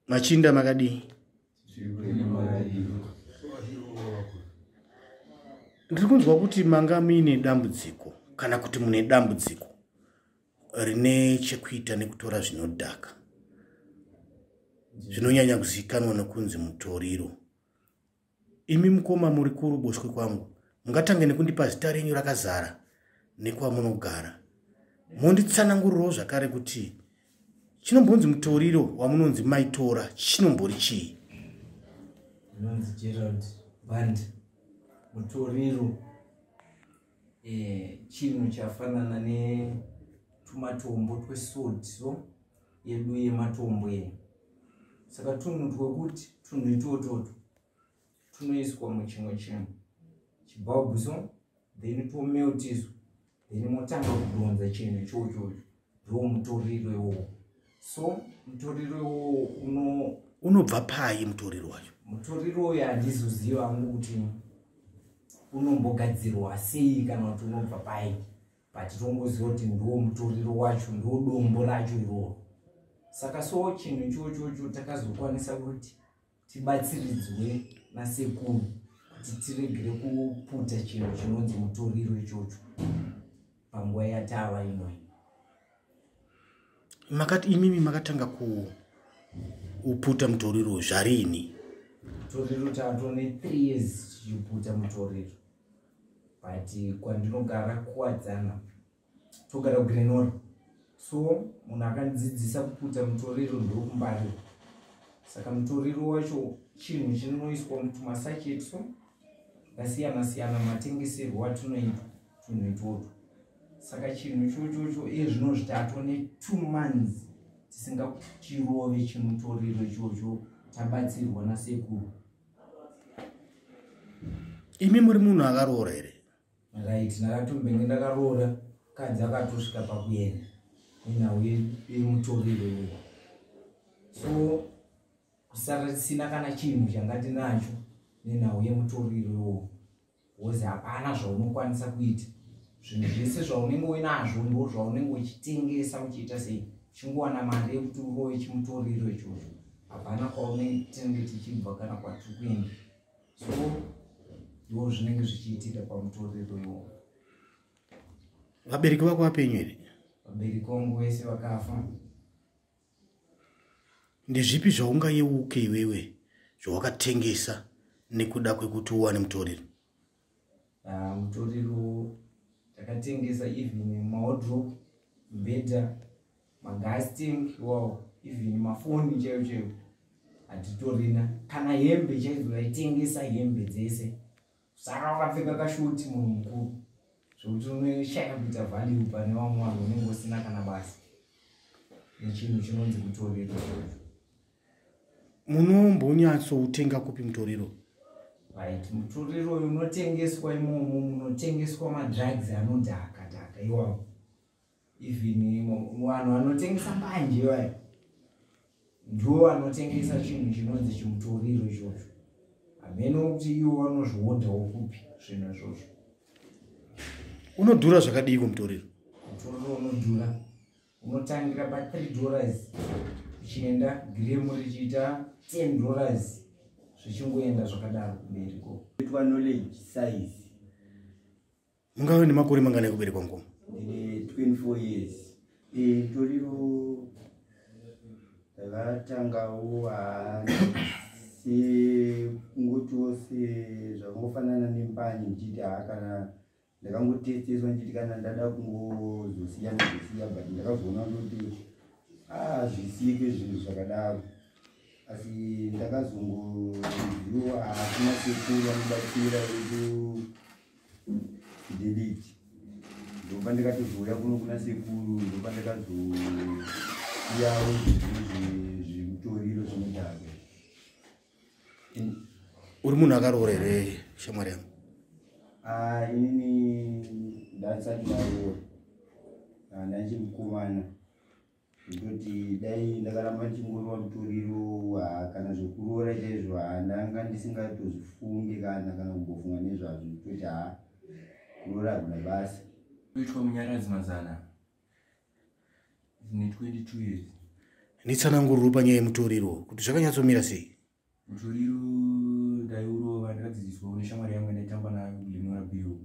machinda makadii ndiri kunzwa kuti manga muine dambudziko kana kuti mune dambudziko rine chekuita nekutora zvinodhaka zvinonyanya kuzivikanwa nokunzi mutoriro Imi mukoma muri kuruboshwe kwangu, mungatange nekundipa zita renyu rakazara nekwamunogara. Monditsanangurirawo zvakare kuti chinombonzi mutoriro wamunonzi maitora chinombori chii? Ndinonzi Gerald Band, mutoriro eh, chinhu chafanana netumatombo twesodso yedu yematombo eno saka tunhu twekuti tunhu itwotwoto tunoiswa muchimwe chinhu chibhabhuso then twomeltiswa then motanga kudhonza chinhu ichochocho ndiwo mutoriro iwowo so mutoriro iwowo uno unobva payi mutoriro wacho mutoriro uyo handizoziva angu kuti unombogadzirwa sei kana kuti unobva payi but tongoziva kuti ndiwo mutoriro wacho ndiwo dombo racho iroro saka so chinhu ichochocho takazokwanisa kuti tibatsiridzwe nasekuru kuti tiregere kuputa chinhu chinonzi mutoriro ichocho panguva yatava inoyi makati imimi makatanga kuputa mutoriro zvarini mutoriro tatone three years tichiputa mutoriro but kwandinogara kuwadzana togara kugrenora so munhu akandidzidzisa kuputa mutoriro ndokumbarira saka mutoriro wacho chinhu chinoiswa mutumasacheti so ndasiyana siyana matengeserwo atinoita tunhu itwotwo saka chinhu chochocho iye zvino zvitatu netwo months tisingatirove chimutoriro ichocho tabatsirwa nasekuru imi muri munhu akaroora here right ndakatombenge ndakaroora kadzi akatosvika pakuenda nenhau yemutoriro iyoyo so kusara tisina kana chinhu changa tinacho nenhau yemutoriro iyoyo bcause hapana zvaunokwanisa kuita zvinhu zvese zvaunenge uinazvo ndo zvaunenge uchitengesa uchiita sei uchingowana mari yekuti uroye chimutoriro ichocho hapana kwaunetenge tichibva kana kwatiri kuenda so ndo zvinenge zvichiitika pamutoriro iwowo vabereki vako vapenyu here vabereki vangu vese vakafa ndezvipi zvaungayeuke iwewe zvawakatengesa nekuda kwekuti uwane mutoriro Ah, mutoriro takatengesa even maodrop mbeta magas tank wow even mafoni chaiyo chaiyo hatitorina kana hembe chaizo taitengesa hembe dzese saka wakapfeka kashoti munhu mukuru zvokuti unoshaya kuita value pane vamwe vanhu unenge usina kana basa nechinhu chinonzi kutoriro munombonyatsoutenga kupi mutoriro right mutoriro uyu unotengeswa imomo munotengeswa madrugs anodhaka dhaka iwawo even vanhu vanotengesa mbanje vayo ndiwo vanotengesa chinhu chinonzi chimutoriro izvozvo hameno kuti iwo vanozvihodhawo kupi zvinhu izvozvo unodhura zvakadiiko mutoriro mutoriro unodhura unotangira pa 3 dollars uchienda giremu richiita 10 dollars zvichingoenda zvakadaro kumberi ko itwa knowledge size ungave nemakore mangana ekuberekwa ngo ndine 24 years ndorivo e, vatangawo haasi kungotiwo se zvakangofanana nembani ndichiti haa kana ndakangotesteswa ndichiti kana ndada kungozosiya ndozosiya but ndakazoona kuti hazvisike ah, zvinhu zvakadaro asi ndakazongoziwa haasina sekuru vanobatsira vedu fidelity ndopa ndikatozouya kuno kuna sekuru ndopa ndikazosiyawo zvimutoriro zvinodhaka uri munhu akaroora here shamwari yangu ah, inini ndasati ndaroora ah, ndaichimukomana ndoti dai ndakaramba ndichingoiwa mutoriro ah, kana zvekuroora chaizvo ndanga ndisingatozvifunge kana kana kumbofunga nezvazvo toti ha kuroora hakuna basa kuitwa munyaradzi mazana nditsananguriro panyaya yemutoriro kuti zvakanyatsomira sei mutoriro ndaiurova ndakadzidziswa une shamwari yangu ndaitamba nayo kulinora biro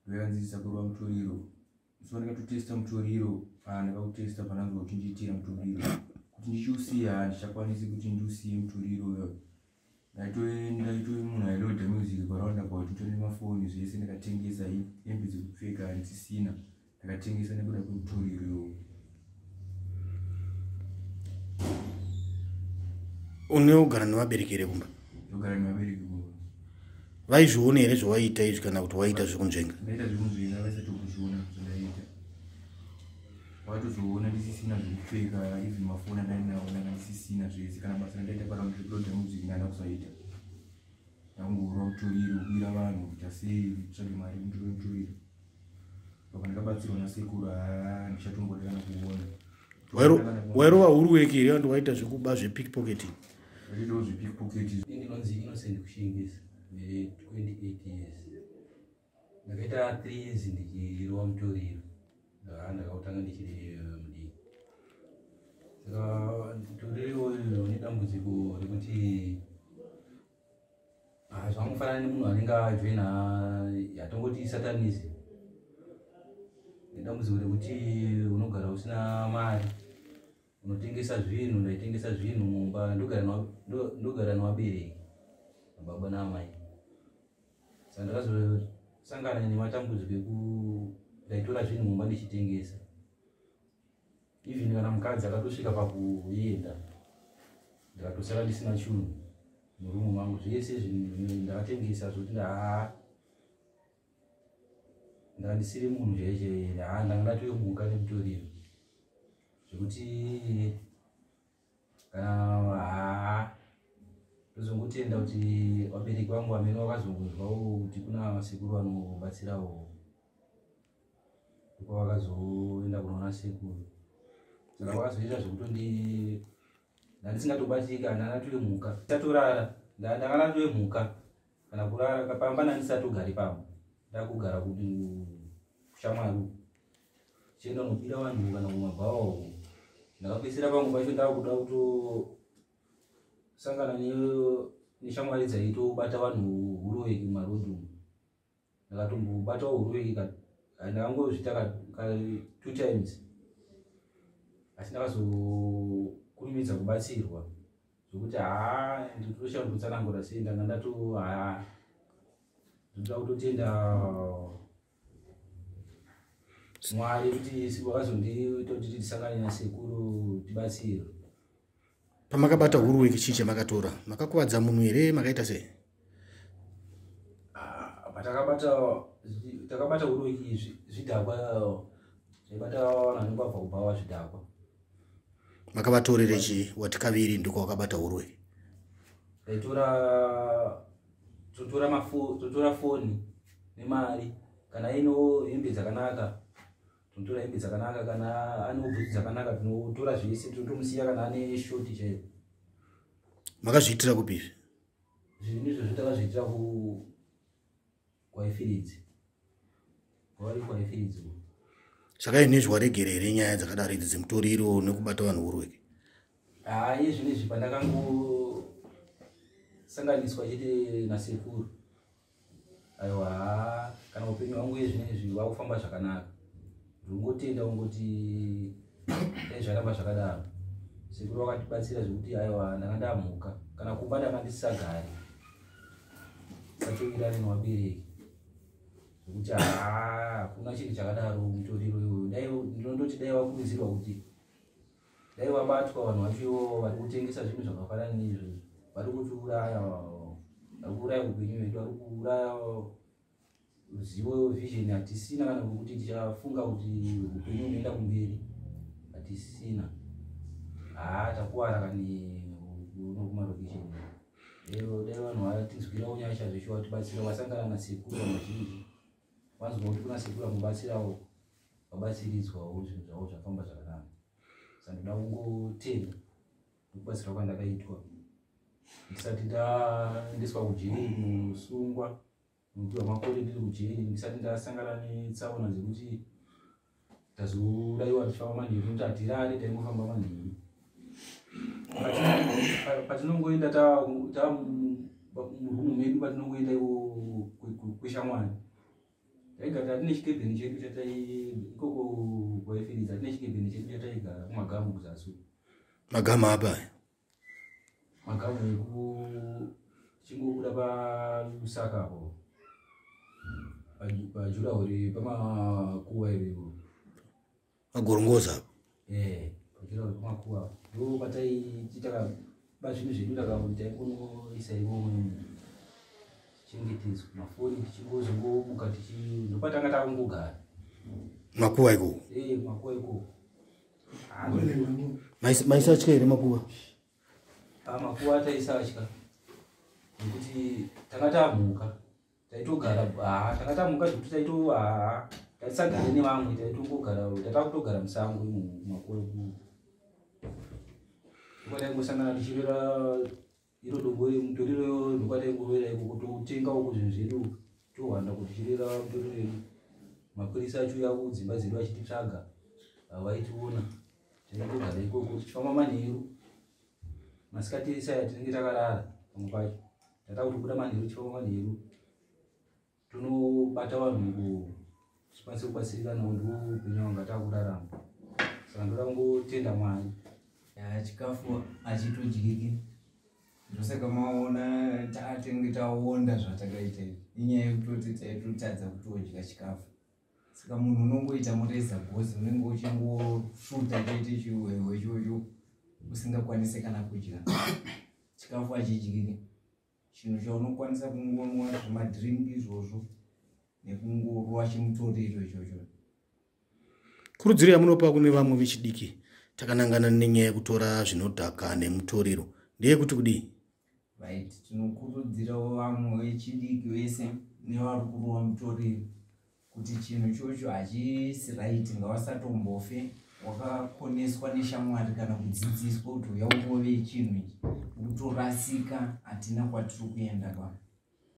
ndaikanzidzisa kurova mutoriro so ndakatotesta mutoriro ah, ndakakutesta pananzwa kuti ndiitira mutoriro kuti ndichiusiya handichakwanisi kuti ndiusiye mutoriro ndaitoenda itoi munhu ailoda music paround about nditone mafoni zvese ndakatengesa hembe dzekupfeka handisisina ndakatengesa nekuda kwemutoriro unogara nevabereki here kumba ndogara nevabereki kumba vaizviona here zvawaiita izvi kana kuti waiita zvekunzvenga ndaita zvekunzvenga vaisati kuzviona zvandaiita watozoona ndisisina zvekupfeka even mafoni andainawo ndanga ndisisina zvese kana basa randaita para muzvekuloda music ndanda kusaita ndangorwa mutoriro kuira vanhu kuita sei tsvage mari mutoro mutoriro apa ndakabatsirwa nasekuru haa ndichatomboda kana kuona wairova huru weki here andi waita zvekuba zvepickpocketing vachiitawo zvepickpocketing ndinonzi innocent kushingisa 28 years ndakaita three years ndichirova mutoriro ndakakutanga ndichiri eh, mudii saka mutoriro uyu une dambudziko rekuti ah, zvangofanana nemunhu anenge ajoina yatongoti satanism nedambudziko rekuti unogara usina mari unotengesa zvinhu ndaitengesa zvinhu mumba ndogara nevabereki nababa naamai saka ndakazosangana nematambudziko eku ndaitora zvinhu mumba ndichitengesa even kana mukadzi akatosvika pakuenda ndakatosara ndisina chunhu murumu mangu zvese zvinhu ndakatengesa zvokuti ndaa ndandisiri munhu chaiche haa ndanga ndatoyomuka nemutoriro zvekuti kana haa ndozongotenda kuti vabereki vangu vamene vakazongonzwawo kuti kuna sekuru vanobatsirawo ndokwa vakazoenda kunoona sekuru saka vakazoita zvekutondi ndandisingatobatika ndandatoyomuka tatorara ndanga ndatoyomuka kana kurara kapamba nandisati ugari pamba ndakugara kuti kushamwari chienda unopira vanhu kana kumabhawa uko ndakapedzisira pamwe pacho ndakuda kutosangana neshamwari dzaitobata vanhu huroveki mumarodhi umu ndakatombobatawo huruveki ka ah, ndakangozvita ka two times asi ndakazokurumidza kubatsirwa zvokuti haa nditoshava kutsanangura sei ndanga ndato haa ndoda kutotenda mwari kuti vakazonditoti tisangane nasekuru tibatsirwe pamakabata huru weki chii chamakatora makakuvadza munhu here makaita sei ah, patakabata takabata huru weki zvidhakwa zvaibata vanhu vanenge vabva kubhawa zvidhakwa makabatorere chii wati kaviri ndiko wakabata huru weki taitora totora mafo totora foni nemari kana ino hembe dzakanaka tinotora hembe dzakanaka kana ane bhutsu dzakanaka tinotora zvese tinotomusiya kana ane shoti chaiyo makazviitira kupi izvi zvinhu izvo zvotakazviitira ku kwaifiridzi kwavari kwaifiridzi saka ini zviwaregere here nyaya dzakadaro idzi dzemutoriro nekubata vanhu urweke haa iye zvinhu izvi pandakangosanganiswa chete nasekuru aiwa haa kana upenyu hwangu uye zvine izvi wakufamba zvakanaka ndongotenda ungoti dai zvaramba zvakadaro sekuru wakatibatsira zvekuti aiwa ndanga ndamhuka kana kumba ndanga ndisisagari sachovirane newabereki zvekuti haa hakuna chinhu chakadaro mutoriro iwoyo dai ndinondoti dai wakurudzirwa kuti dai vabatwa vanhu vacho ivovo vari kutengesa zvinhu zvakafanana neizvozvi vari kutiuraya vari kuuraya upenyu vedu vari kuuraya zivo vision hatisina kana kuti tichafunga kuti upenyu unoenda kumberi hatisina haa takuwara kani unokumarokishen dai vanhu vatinzwira unyasha zveshuwa tibatsira vasangana nasekuru vamazhinji Wanzwa kuti kuna sekuru amubatsirawo vabatsiridzwawo zvinhu zvavo zvafamba zvakanaka sandoda kungotenda nekubatsira kwandakaitwa ndisati ndaendeswa kujeri kusungwa nokuti vamakore ndiri kujeri ndisati ndasangana netsaona dzekuti tazodaiwa tichifamba manheru nokuti hatirare taingofamba manheru patinongoenda ta murumu medu patinongoenda iwo kweshamwari taigara atine chikebheni chedu chatai ikoko kwaifiriza atine chikebheni chedu chataigara kumagamu kuzasi magamu apa Makamu yeku chingobuda pa Lusaka apo. Pa jura uri pa makuwa iri. Pagorongoza. Eh, pa jura uri pa makuwa. Ndo patai titaka ba zvinhu zvedu ndakamuita ikono isa ivo chengetedzwa mafoni tichingozongomuka tichi ndopatanga takungogara makuwa ikoko eh makuwa ikoko maisatya here makuva ah, makuva taisatya nekuti tanga tamhuka taitogara haa ah, tanga tamhuka zvekuti taito haa ah, taisagare nevamwe taitongogara tatakutogara musango makuva ekuti taingosangana tichirera iro dobo iri mutoriro yo zvokwata ikurovera iko kuti utenga uku zvinhu zvedu tohwanda kuti chirera mutoriro yedu mapurisa acho uya kudzimba dzedu achititsvaga havaitiona tinotogara ikoko tichifamba manheru masikati esaya tinenge takarara pamwe pacho tatakuti kuda manheru tichifamba manheru Tunobata vanhu ngo chikwanise kubatsirika no ndo upenyu wanga takurarama. Saka ndoda kungotenda Mwari. Ya chikafu achitodyiki. Ndosaka maona tatenge taonda zvatakaita inyaya yekutoti taitotadza kutodya chikafu saka munhu unongoita mureza gozi unenge uchingosvuta choite chiwewe chocho usingakwanise kana kudya chikafu achidyike chinhu chaunokwanisa kungonwa zvemadrink izvozvo nekungorwa chimutoriro ichocho kurudziro yamunopa kune vamwe vechidiki takanangana nenyaya yekutora zvinodhaka nemutoriro ndeyekuti kudii right tinokurudzirawo vamwe vechidiki vese nevari kurwa mutoriro kuti chinhu chocho hachisi right ngawasatombofe wakakoneswa neshamwari kana kudzidziswa kuti uya ukove chinhu ichi ukutorasika hatina kwatiri kuenda pa